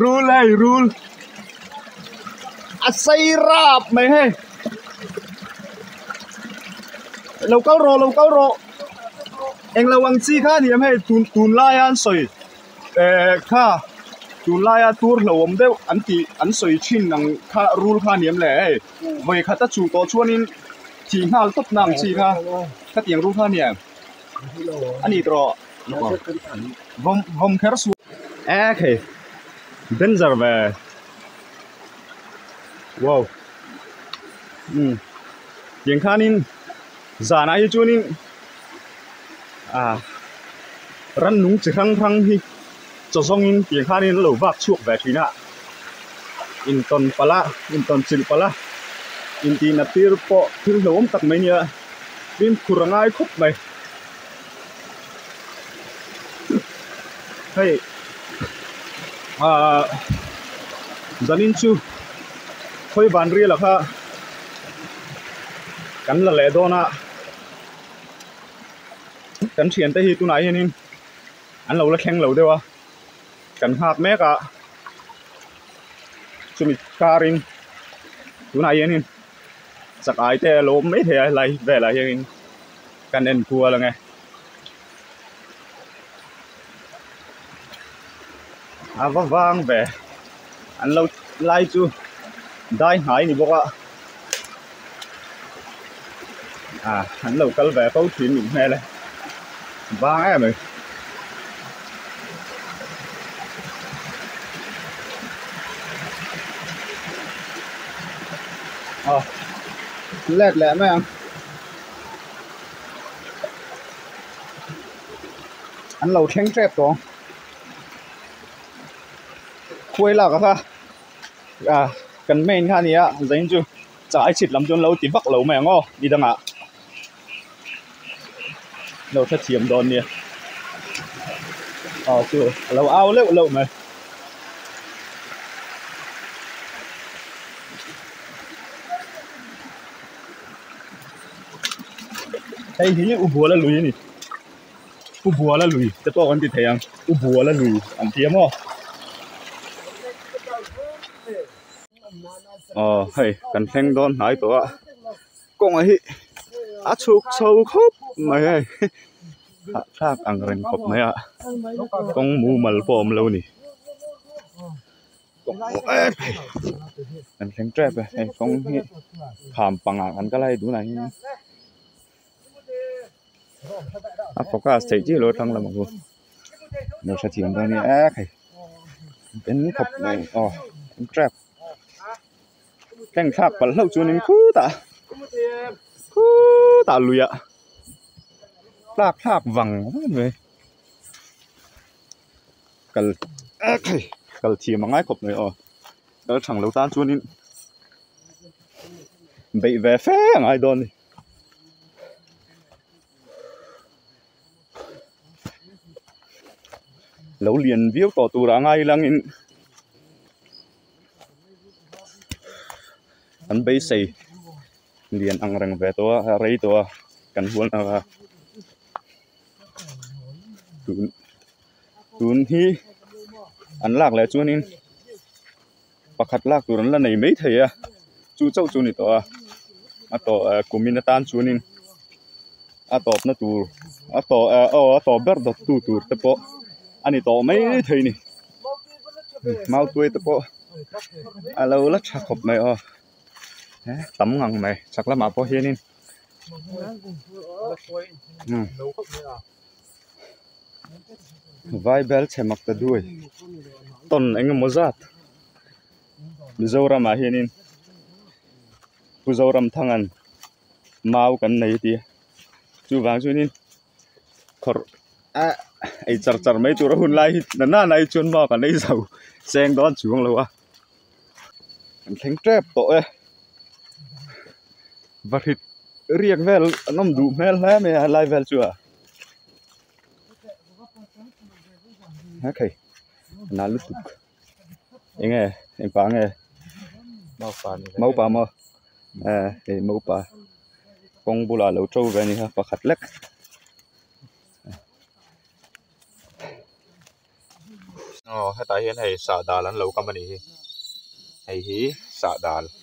rul hei rul a sai rap mai hei lo kal rawh lo kal rawh eng lo ang chi kha a ni ang hei tun tun laia an sawi eh kha tun laia tur hlauhawm deuh an tih an sawi thin ang kha rul kha a ni ang leh hei vawi khat a chuh tawh chuan in thih nghal tawp na ang chi kha khatiang rul kha a ni ang a ni tawh. vom vom kher su a khe danger ve wow um tiang khanin zan ai chuan in a ram nung chi hrang hrang hi chaw zawng in tiang khan in an lo bak chhuak ve thin a in tawn palh a in tawn chilh palh a in tihna tir pawh thil hlauhawm tak mai a nia tin khur a ngai khawp mai. hei ahh zanin chu khawi ban riala kha kan la leh dawn a kan thian te hi tunah hian in an lo la thleng lo deuh a kan nghak mek a chumi kar in tunah hian in chak ai te a lo awm mai thei a helai velah hian in. Kan en kual ang e. A va vang ve. An lo lai chu dai hnai ni bawk a. À, an lo kal ve fo thin nih hmel e. Vang em e. Ờ, let leh mai ang. an lo thleng tep tawh khuai lak a kha ah kan main kha nia zeng chu chah i chhit lam chu an lo ti vak lo mai ang aw i dang ah an lo hrethiam dawn nia aw chu a lo au leuh leuh mai hei hi u buala lui a ni u buala lui te pawh kan ti thei ang u buala lui an ti a maw aw hei kan thleng dawn hnai tawh a kawng ah hi a chhuk chho khawp mai a hah thlak angreng khawp mai a kawng mumal pawh a awm lo a ni. kan thleng tep e hei kawng hi kham panga kan kal a hei tunah hian a focus theih chiah lo a thlang lamah pawh lo hre thiam dawn nia eee hei in khawp mai aww in tep thlengthlak palh hlauh chuan in khutah khutah luiah tlak thlak vang mai. kal kal thiam a ngai khawp mai aw kal chhang lo tan chuan in beih ve fe a ngai dawn a ni lo lian viau tawh tur ah a ngai lang in an beisei lian angreng ve tawh a rei tawh a kan hual hna kha. tun tun hi an lak leh chuanin pakhat lak tur an la nei mai thei a chu chau chu ni tawh a a tawh a kumin atan chuanin a tawpna tur a tawh a aw a tawp ber dawt tu tur te pawh a ni tawh mai thei a ni mau tuai te pawh a lo la tha khawp mai aw he tam ngang mai chhak lamah pawh hianin. vai belchhe mak ta duai ton eng emaw zat mizoramah hian in pu zoram thangan mau kan nei a ti a chuvang chuan in-- kawr ah ei char char mai tur a hun lai hi nana nana hi chuan mask an ei zo seng dawn chuang lo a an thleng tep tawh e va hrit riak vel an awm duh hmel hle mai a helai vel chu a heng hei a na lutuk. enge engpa nge mopa maw ah hei mopa kawng bulah lo to ve a ni a pakhat lek aw hetah hian hei sah dal an lo kam a ni hi hei hi sah dal.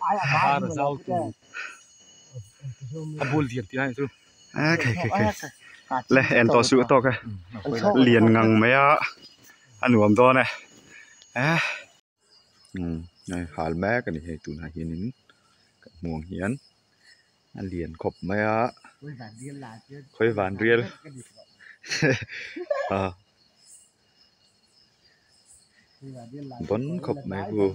Thar a zau tu a bul lian tih ang chu eh khei khei khei le en tawh suh tawk e lian ngang mai a a nuam dawn e eh nai hal mek a ni hei tunah hian in kan hmuh ang hian a lian khawp mai a khawivan rial ah. bawn khawp mai bu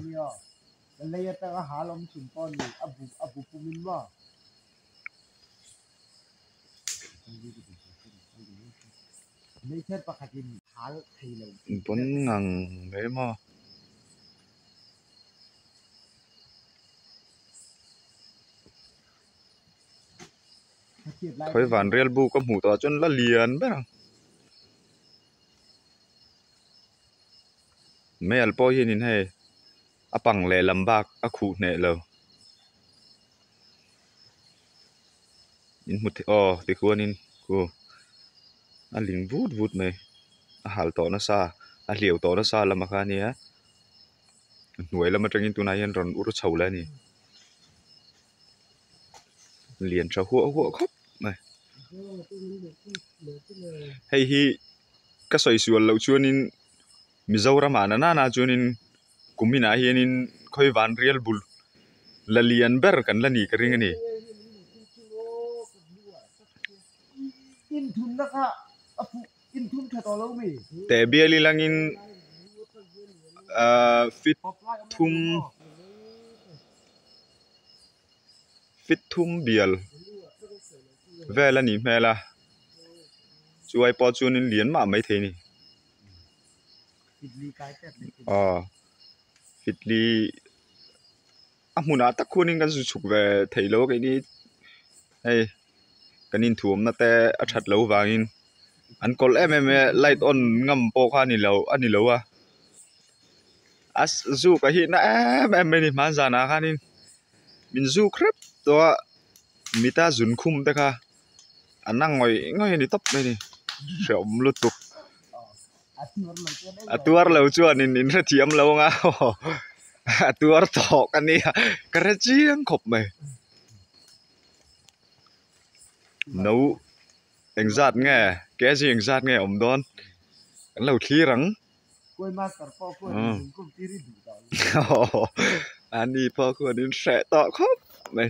bawn ngang mai maw. Khawivan rial bu ka hmuh tawh ah chuan la lian ber ang. Hmeial pawh hian in hei a pang leh lam bak a khuh hneh lo in hmu thei aw tichuan in khu a hlim vut vut mai a hal tawh nasa a hliau tawh nasa lam kha nia a hnuai lam atangin tunah hian rawn ur chho leh a ni. lian tha huah huah khawp mai hei hi ka sawi sual loh chuanin mizoram ah na na na chuanin kum inah hianin khawi vanrial bul la lian ber kan la ni ka ring a ni in thunna kha a fuh-- teh bial i langin ahh fit thum fit thum bial vel a nih hmel a chu ai pawh chuan in lian mah mai thei a ni aww fitli a hmunah tak khuanin kan zu chhuk ve theilo keini hei. kan inthuamna te a that loh vangin an kawlh em em e light on ngam pawh kha a ni loh a ni lo a a zuk a hihna em em mai a ni mahn zanah khanin min zuk hrep tawh a mita zun khum te kha an ang ngawih ngawih a ni tawp mai a ni hrehawm lutuk a tuar lo chuan in in hrethiam lo ang a a tuar tawh ka nia ka hre chiang khawp mai. no eng zat nge KG eng zat nge awm dawn kan lo thlir ang Ani pawh khaw an inhreh tawh khawp mai.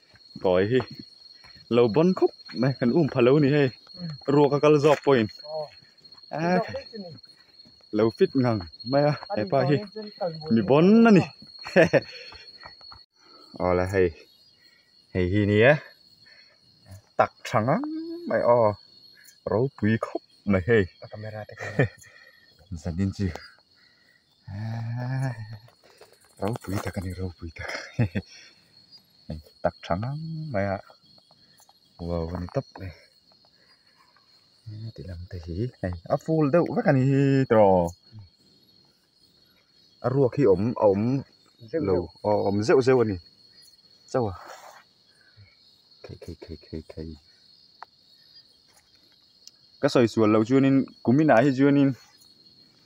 Kawi hi lo bawn khawp mai kan um phah lo a ni hei ruak a kal zawk pawhin aa lo fit ngang mai a hepa hi mi bawn a ni hehe aw la hei hei hi nia tak tha ngang mai aw ropui khawp mai hei he zanin chu-- ropui tak a ni ropui tak hei tak tha ngang mai a wow a ni tawp mai heti lam te hi hei a full deuh vek a ni hi tawh aw a ruak hi a awm a awm zeuh lo a awm zeuh zeuh a ni chauh a khei khei khei khei khei ka sawi sual loh chuan in kum inah hi chuan in.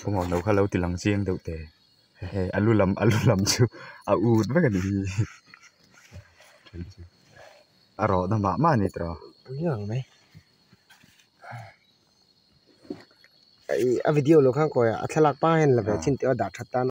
Pawimawh no kha lo ti lang chiang deuh teh hehe a lu lam a lu lam chu a ut vek a ni hi a rawhna mah mah a ni tawh a video lo khan kawi a a thlalak pang hian la ve chhin teuh a dah that tan a.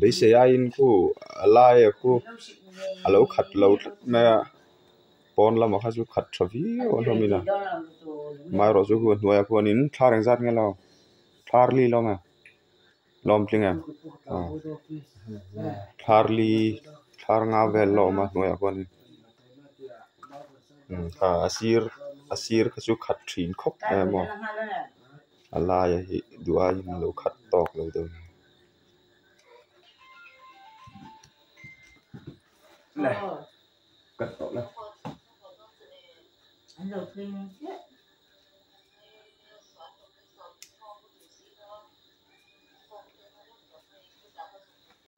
beisei aiin khu a laia khu a lo khat lo tlat mai a pawn lamah kha chu khat tha viau a hlawm in a hma erawh chu hei hnuaiah pawh hian thar engzat nge lo thar li hlawm e lawm tling em aw thar li thar nga vel a awm a hnuaiah pawh hian in a sir a sir kha chu khat thin khawp mai a maw. a laia hi duai in lo khat tawk lo deuh a ni.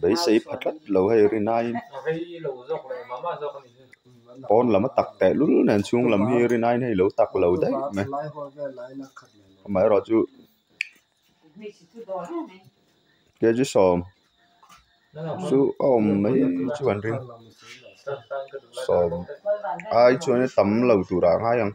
beisei pha tlat lo hei ri naiin pawn lama tak tehlul nen chhung lam hi ri naiin hei lo tak lo daih mai amaherawh chu K G sawm chu a awm mai chu an ring sawm ai chuan in a tam lo tur a ngai ang.